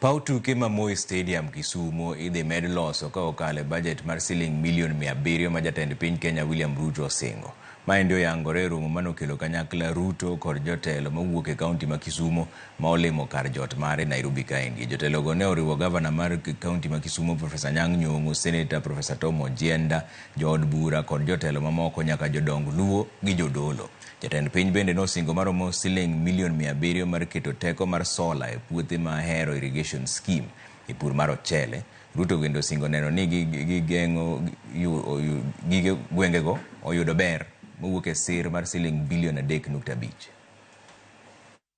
Paw tuke ma Moi Stadium Kisumo idhi med loso ka okalo e bajet mar siling milion mia abiriyo ma jatend piny Kenya William Ruto osingo. Maendi oyangore e romo mane okelo kanyakla Ruto kod jotelo mowuok e kaunti ma Kisumo ma olimo kar jot mare Nairobi kaendi. Jotelogo ne oriwo gavana mar kaunti ma Kisumo Profesa Anyang' Nyong'o, seneta Profesa Tom Ojienda, jood bura kod jotelo mamoko nyaka jodong Luo gi jodolo. Jatend piny bende nosingo maromo siling milion mia abiriyo mar keto teko mar sola e puothe ma Ahero Irrigation Scheme e pur mar ochele. Ruto bende osingo neno ni gigeng'o gige gwengego oyudo ber mowuok e sir mar siling bilion adek nukta abich.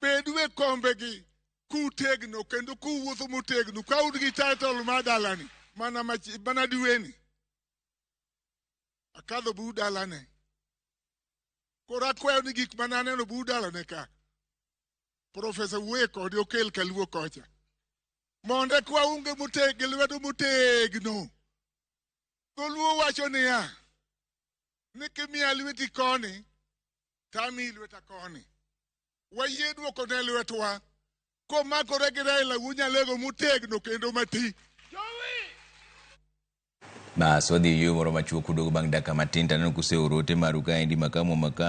bedu e kombegi kutegno kendo kuwuotho motegno ka un gi title mar dalani mana, mana diweni akadho bu dalane koro akwayo ni gik mana aneno bu dalane ka profesa wuoye kode okel kaluo kocha mondo ekwa unge moteg gi lwedo motegno dholuo wacho niya ni kimiya lweti koni tamiyi lweta koni. Wayie dwoko ne lwetwa komakore gi Raila Wunya Lego motegno kendo mati. Bas wadhi e yueyo moro machuok uduogo bang' dakika matin taneno kuseoro ote maru kaendi makamu makamu.